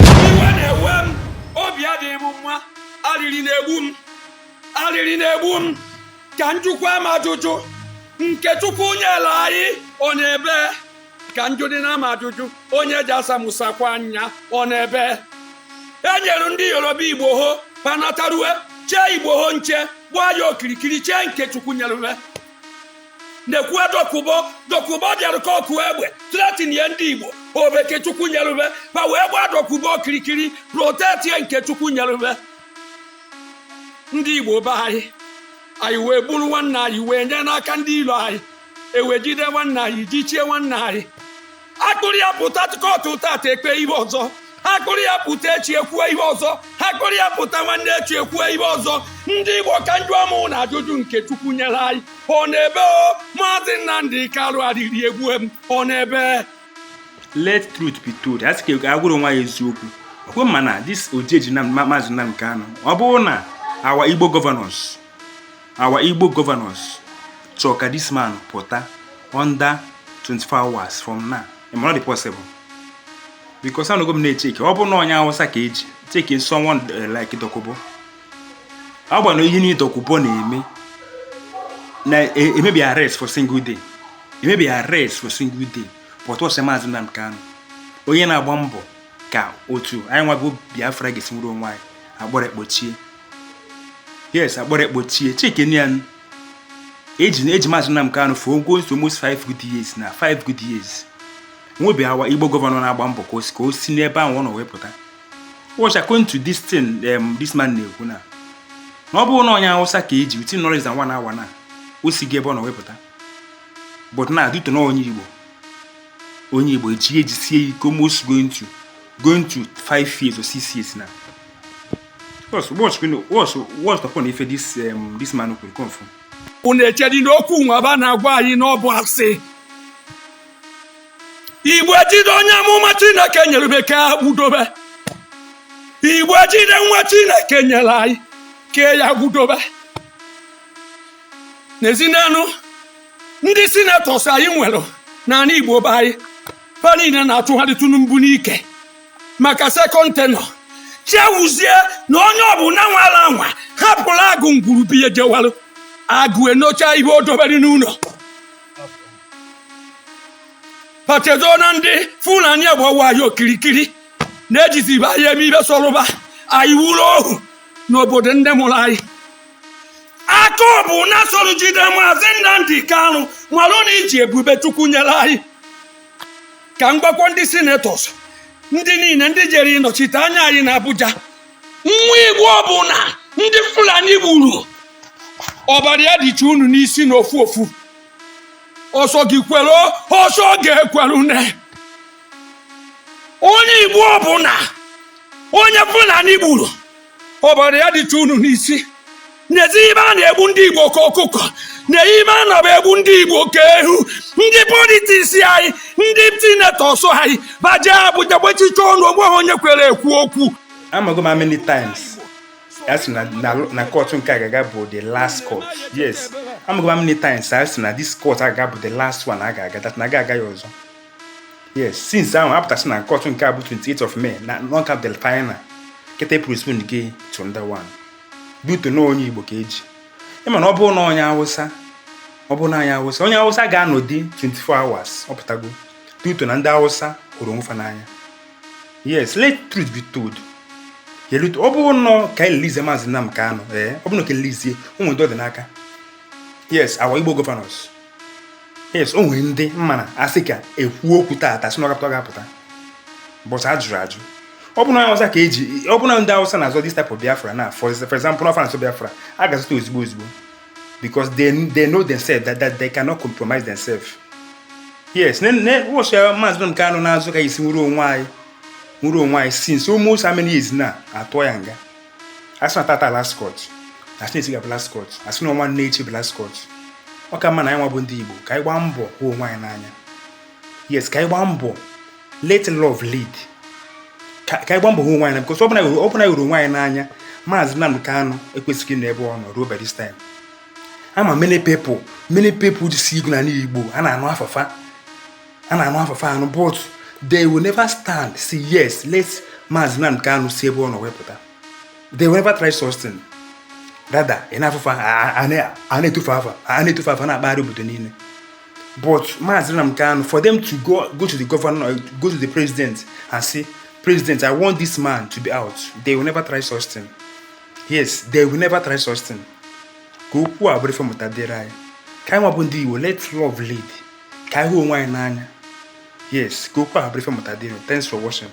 iwe na-ewe m obi adịghị m mma arịrị na-egbu m arịrị na-egbu m ka njụkwa m ajụjụ nke chukwu nyere anyị ọ nọ ebee ka njụ dị na m ajụjụ onye ji asamusakwa anya ọ nọ ebee e nyere ndị yoruba igboho ba natarue chee igboho nche gbaa ya okirikiri chee nke chukwu nyere na-ekwuwe dokubo dokubo bịara ka ọkụ egbe threatenie ndị igbo ọ bụ nke chukwu nyerube ba wee gbaa dokubo okirikiri protectie nke chukwu nyerube ndị igbo be anyị anyị wee buru nwanne anyị wee nye n'aka ndị ilo anyị ewejide nwanne anyị jichie nwanne anyị akpụrụ ya pụta kọtụ tata ekpe ihe ọzọ akpụrụ ya pụta echi ekwuo ihe ọzọ akpụrụ ya pụta nwanne echi ekwuo ihe ọzọ ndị igbo ka njụ ụmụnna ajụjụ nke chukwu nyere anyị ọ nọ ebee o maazị nnamdị kanu arịrị egbue m ọ nọ ebee let truth be told a sị ka agwa onwe anyị eziokwu ọkwa ịma na this oji eji na maazị Nnamdi Kanu ọ bụrụ na our igbo governors our Igbo governors chọọ ka this man pụta under 24 hours from now it may not be possible because anọgo m na-echeki ọ bụrụ na onye awụsa ka eji cheki someone eh, like Dokubo agbana ihe niile Dokubo na-eme emebi ya arrest for single day emebi arrest for single day but ọsị maazị Nnamdi Kanu onye na-agba mbọ ka otu anyị nwago Biafra ga-esi nwere onwe anyị akpọrọ ya kpochie yes akpọrọ ya kpochie cheki nya na eji eji maazị Nnamdi Kanu for almost almost five good years now five good years nwebeghị our igbo governor na-agba mbọ ka osi ka o si n'ebe ahụ ọ nọ wee pụta watch according to this thing um, this man na-ekwu na na ọ bụrụ na onye awụsa ka eji within knowledge na one hour na o sigo ebe ọ nọ wee pụta but na due to na onye igbo onye igbo eji ejisie ike almost going to going to five years or six years now Boss, what's going on? What's what's the point if this um this man will come from? Unu echedi n'okwu nwaba na-agwa anyị n'ọbụ asị. Igbo ejide onye amụma Chineke nyere be ka ya agbudobe. Igbo ejide nwa Chineke nyere anyị ka ya agbudobe. Nezienụ ndị senators anyị nwere n'ala Igbo be anyị fa niile na-achụgharị Tinubu n'ike. maka second tenure chefuzie na onye ọbụla nwara anwa hapụrụ agụ ngwuru be ya jewalụ agụ enocha ihe o dobere n'ụlọ fa chezọ na ndị fulani agbawa ya okirikiri na-ejizi be anyị eme ife sọrụ ba anyị bụrụ ohu n'obodo ndị mụrụ anyị aka ọbụna soro jide maazị Nnamdi Kanu malụ na iji ebube chukwu nyere anyị ka m gwakwuo ndị senetọs ndị niile ndị jere ịnọchite anya anyị na Abuja nwa Igbo ọbụla ndị Fulani gburu ọbara ya dịcha unu n'isi na ofu ofu ọ sọ gị kwere ọ sọ gị ekwerune onye Igbo ọbụla onye Fulani gburu ọbara ya dịcha unu n'isi n'ezi ibe a na-egbu ndị igbo ka ọkụkọ na-eyi ime a na-aba egbu ndị igbo ka eghu ndị politiks anyị ndị senetọs anyị gbaje Abuja gbachicha ọnụ onweghị onye kwere ekwu okwu amago m many times a sị na kọtụ nke a ga-aga bụ the last court yes amago m many times a sị na this court a ga-aga bụ the last one a ga-aga that na aga aga ya ọzọ yes since ahụ a pụta sị na kọtụ nke a bụ 28 of May na ọ ga-adị final kịta a postponego 21 due to na onye Igbo ka e ji ị ma na ọ bụrụ na onye Awụsa ọ bụrụ na onye Awụsa onye Awụsa ga-anọdị 24 hours ọ pụtago due to na ndị Awụsa hụrụ onwe fa n'anya yes let truth be told yelute ọ bụrụ na ka anyị releasie maazị Nnamdi Kanu ee ọ bụrụ na ka a releasie ụmụ ndị ọ dị n'aka yes our Igbo governors yes o nwere ndị ma na a sị ka e kwuo okwu taata sị na ọ ga-apụta ọ ga-apụta but a jụrụ ajụ ọ bụ na Hausa ka e ji ọ bụ na ndị Hausa na-azọ this type of Biafra now for example na France Biafra a ga-azọta ozugbo ozugbo because they, they know themselves that, that they cannot compromise themselves yes ụbọchị ya maazị Nnamdi Kanu na-azọ ka anyị si nwere onwe anyị nwere onwe anyị since almost how many years na a tụọ ya nga a sị na taata last court a sị na echi ga-abụ last court a sị na ọ nwanne echi bụ last court ọ ka mma na anyị nwa bụ ndị Igbo ka anyị gbaa mbọ hụ onwe anyị n'anya yes ka anyị gbaa mbọ let love lead ka anyị gbaa mbọ hụ onwe anyị na because ọ bụrụ na anyị hụrụ onwe anyị n'anya maazị Nnamdi Kanu ekwesịghị ịnọ ebe ọ nọ ruo by this time ama many people many people ji si igwu na Igbo a na-anụ afa fa a na-anụ afa fa anụ but they will never stand say yes let Maazị Nnamdi Kanu si ebe ọ nọ wee pụta they will never try such thing rather ị na-afụ fa a na-etu fa afa a na-etu fa afa na-akpagharị obodo niile but Maazị Nnamdi Kanu for them to go go to the governor go to the president and say president I want this man to be out they will never try such thing yes they will never try such thing ka okwu a bụrụ ife mmụta dịrị anyị ka anyị nwa bụ ndị Igbo let love lead ka anyị hụ onwe anyị n'anya yes ka okwu ahụ bụrụ ife mmụta dịrị unu thanks for watching